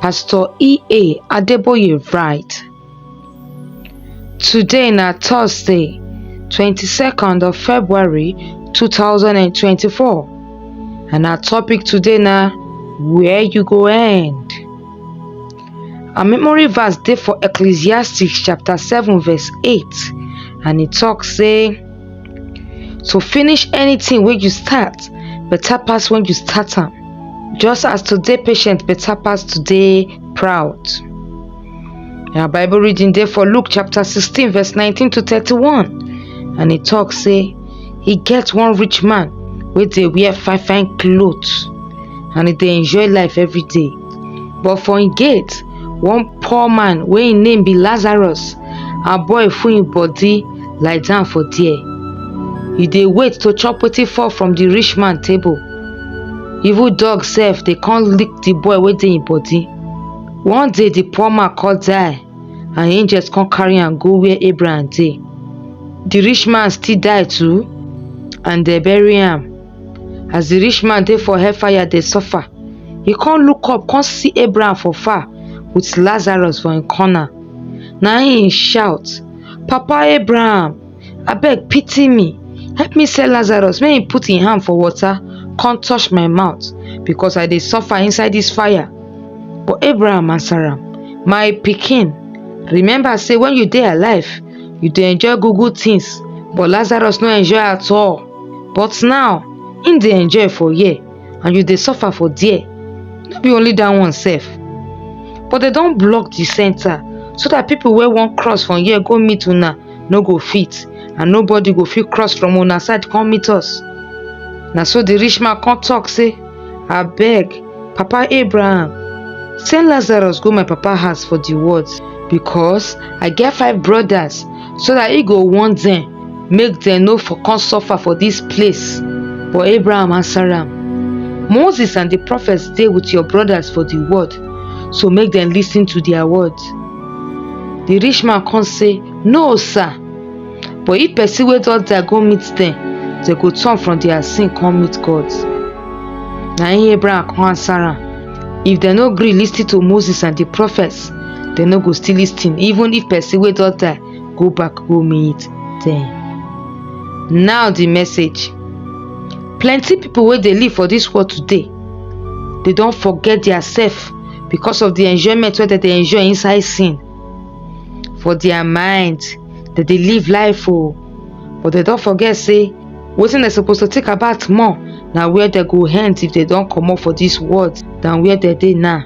Pastor E.A. Adeboye write, Today na Thursday, 22nd of February 2024 and our topic today na where you go end. Our memory verse dey for Ecclesiastes chapter 7 verse 8 and e talk say, to finish anything wey you start better pass when you start am just as to dey patient better pass to dey proud our bible reading dey for luke chapter 16 verse 19 to 31 and e talk say e get one rich man wey dey wear fine fine cloth and e dey enjoy life every day but for im gate one poor man wey im name be lazarus aboy full im body lie down for there you dey wait to chop wetin fall from the rich man table even dog sef dey come lick the boy wey dey im body one day the poor man come die and angels come carry am go where abraham dey the rich man still die too and dem bury am as the rich man dey for hellfire dey suffer e come look up come see abraham for far with lazarus for im corner na im e shout papa abraham abeg pity me help me send lazarus make he put im hand for water come touch my mouth because i dey suffer inside dis fire but abraham answer am my pikin remember say when you dey alive you dey enjoy good good things but lazarus no enjoy at all but now im dey enjoy for here and you dey suffer for there no be only that one sef but dem don block the center so that people wey wan cross from here go meet una no go fit and nobody go fit cross from una side come meet us na so the rich man come talk say abeg papa abraham send lazarus go my papa house for the words because i get five brothers so dat e go warn dem make dem no for come suffer for dis place. But Abraham answer am, Moses and di prophets dey with your brothers for di world, so make dem listen to their words. Di rich man come say, No, sir! But if person wey don die go meet dem, dem go turn from their sin come meet God. Na im Abraham come answer am. if dem no gree lis ten to moses and di prophets dem no go still lis ten even if person wey don die go back go meet dem now di message plenty pipo wey dey live for dis world today dey don forget dia sef because of di enjoyment wey dem dey enjoy inside sin for dia mind dem dey live life o but dem don forget say wetin dem suppose to think about more na where dem go end if dem don comot for dis world than where dem dey now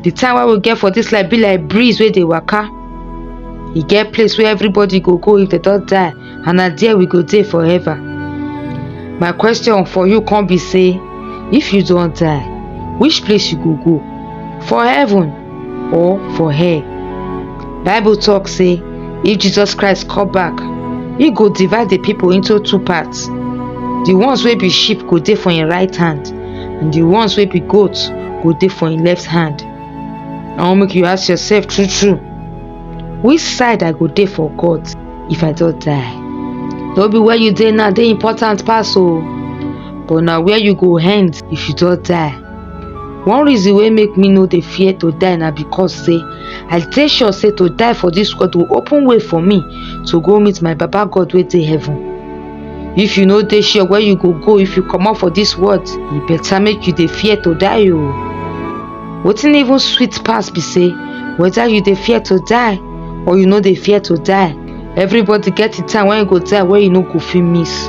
the time wey we get for dis life be like breeze wey dey waka e get place wey everybody go go if dem don die and na there we go dey forever my question for you come be say if you don die which place you go go for heaven or for hair bible talk say if jesus christ come back he go divide the people into two parts the ones wey be sheep go dey for him right hand and the ones wey be goat go dey for him left hand i wan make you ask yourself true true which side i go dey for god if i don die no be where you dey now dey important pass o but na where you go end if you don die one reason wey make me no dey fear to die na because say i dey sure say to die for dis world go open way for me to go meet my baba god wey dey heaven if you no dey sure where you go go if you comot for dis world e better make you dey fear to die o wetin even sweet pass be say whether you dey fear to die or you no dey fear to die everybody get the time wey e go die wey e no go fit miss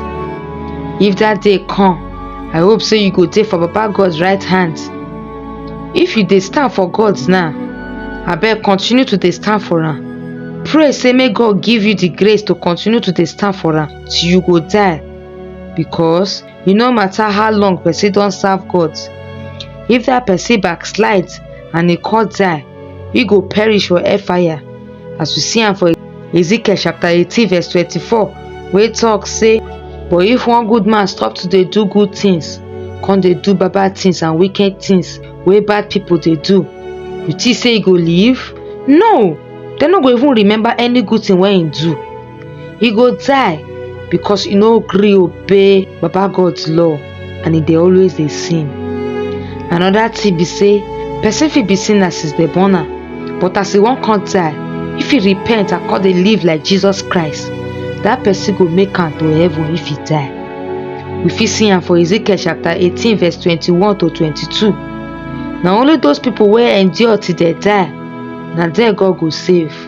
if that day come I hope say you go dey for Baba God's right hand. If you dey stand for God's now, abeg continue to dey stand for am. Pray say make God give you the grace to continue to dey stand for am till you go die because e no matter how long person don serve God, if that person backslide and e come die, e go perish for hellfire. as we see am for ezekiel chapter 18 verse 24 wey talk say but if one good man stop to dey do good things come dey do bad bad things and wicked things wey bad people dey do you think say e go live no dem no go even remember any good thing wey im do He go die because he no gree obey Baba God's law and he dey always dey sin. Another thing be say person fit be sinner since dem born am but as he wan come die, if he repent and come dey live like Jesus Christ, that person go make am to heaven if he die. We fit see am for Ezekiel chapter eighteen verse twenty-one to twenty-two. Na only those people wey endure till dem die na dem God go save.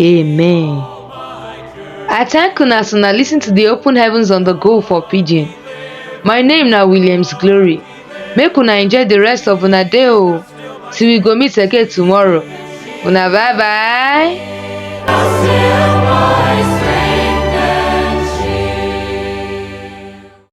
Amen. I thank una as una listen to the open heavens on the go for pidgin. My name na Williams Glory. Make una enjoy the rest of una day o. Till we go meet again tomorrow. Una bye bye.